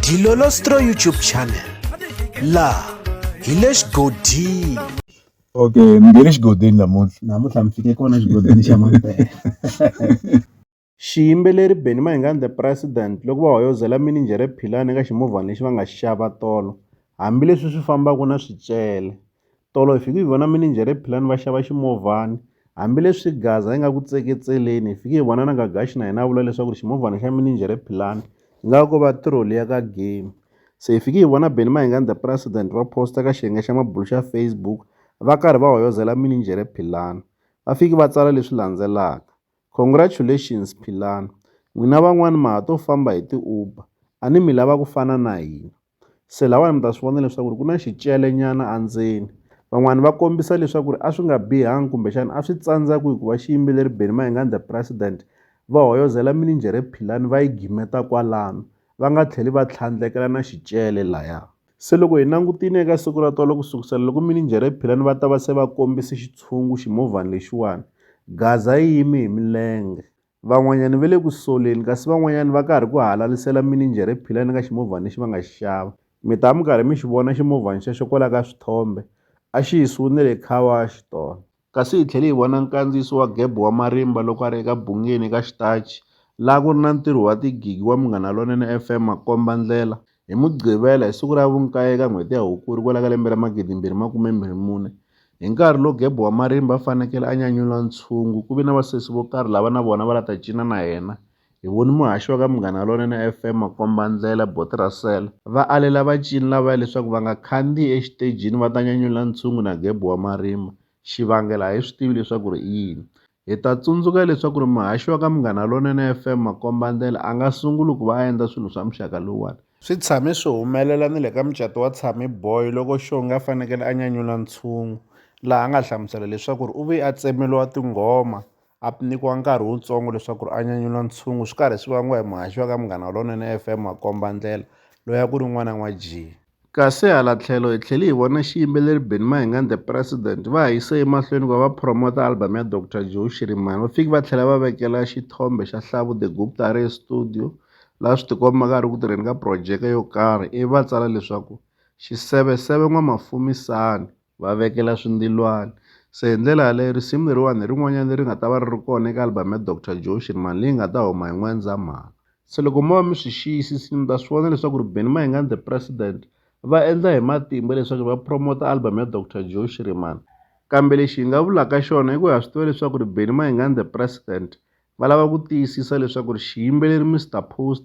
Dilolostro YouTube channel la hi le xigodini okay mi nge le xigodini namuntlha namuntlha mi fike kona xigodini xa mampela xiyimbeleri benny mahingani the president loko va hoyozela mininjhere philani eka ximovhana lexi va nga xi xava tolo hambileswi swi fambaka na swicele Tolo hi fike hi vona mininjhere hi philani va xava ximovhana. Hambileswi Gaza yi nga ku tseketseleni, hi fike hi vona na Gagashi na yena a vula leswaku ri ximovhana xa mininjhere philani yi nga ko va tiroli ya ka game. Se hi fike hi vona Benny Mayengani president va post-a ka xiyenge xa mabulo xa Facebook va karhi va hoyozela mininjhere philani. Va fike va tsala leswi landzelaka, Congratulations philani. N'wina van'wana ma ha to famba hi ti-Uber. A ni mi lava ku fana na hina. se lahawani mi ta swi vona leswaku ri ku na xicele nyana endzeni van'wani va kombisa leswaku ri a swi nga bihanga kumbexana a swi tsandza ku hikuva xiyimbeleri Benny Mayengani the president va hoyozela mininjhere philani va yi gimeta kwalano va nga tlheli va tlhandlekela na xicele laya se loko hi langutile eka siku ra tolo ku sukusela loko mininjhere philani va ta va se va kombise xitshungu ximovhana lexiwani gaza yi yime hi milenge Van'wanyana va le ku soleni kasi van'wanyana va karhi ku halalisela mininjhere philani ka ximovhana lexi va nga xi xava. Mi ta va mi karhi mi xi vona ximovhana xexo kwala ka swithombe, a xi yisiwe ni le car wash tolo. Kasi hi tlhele hi vona nkandziyiso wa Geb wa marimba loko a ri eka Bhungeni eka Xitachi, laha ku ri na ntirho wa tigigi wa Munghana Lonene FM, makomba-ndlela, Hi Mugqivela, hi siku ra vunkaye eka n'hweti ya Hukuri kwala ka lembe ra 2024, hi nkarhi lowu Gebo wa marimba a fanekele a nyanyula ntshungu, ku ve na vasesi vo karhi lava na vona va la ta cina na yena. Hi voni muhaxi wa ka Munghana Lonene FM makombandlela, Boti Russell, va alela vacini lavaya leswaku va nga khandzihi exitejini va ta nyanyula ntshungu na Gebo wa marimba. Xivangelo a hi swi tivi leswaku ri i yini. Hi ta tsundzuka leswaku ri muhaxi wa ka Munghana Lonene FM Makomba Ndlela a nga sunguli ku va a endla swilo swa muxaka lowuwani. Swi tshame swi humelela ni le ka mucato wa Tsami Boy loko Xongi a fanekele a nyanyula ntshungu, laha a nga hlamusela leswaku ri u vuye a tsemeriwa tinghoma a nyikiwa nkarhi wutsongo leswaku ri a nyanyula ntshungu swi karhi swi vangiwa hi muhaxi wa ka Munghana Lonene FM Makomba Ndlela loyi a ku ri n'wana n'wa Jee. Kasi hala tlhelo hi tlhele hi vona xiyimbeleri Benny Mahingani The President va ha yise emahlweni ku va va phromota album ya Doctor Joe Shirimani va fike va tlhela va vekela xithombe xa Hlavu The Gupta a ri estudio laha swi tikombaka a ri ku tirheni ka projeke yo karhi ivi va tsala leswaku Xiseveseve N'wamafumisani. va vekela swindilwani se hi ndlela yaleyo risimu leriwani hi rin'wanyana leri nga ta va ri ri kona eka album ya Doctor Jotion mani leyi nga ta huma hi N'wendzamhala se loko mo va mi swi xiyisisile mi ta swi vona leswaku ri Benny Mayengani the president va endla hi matimba leswaku va promota album ya Doctor Jotion mani kambe lexi hi nga vulaka xona i ku ha swi tiva leswaku ri Benny Mayengani the president va lava ku tiyisisa leswaku ri xiyimbeleri Mister Post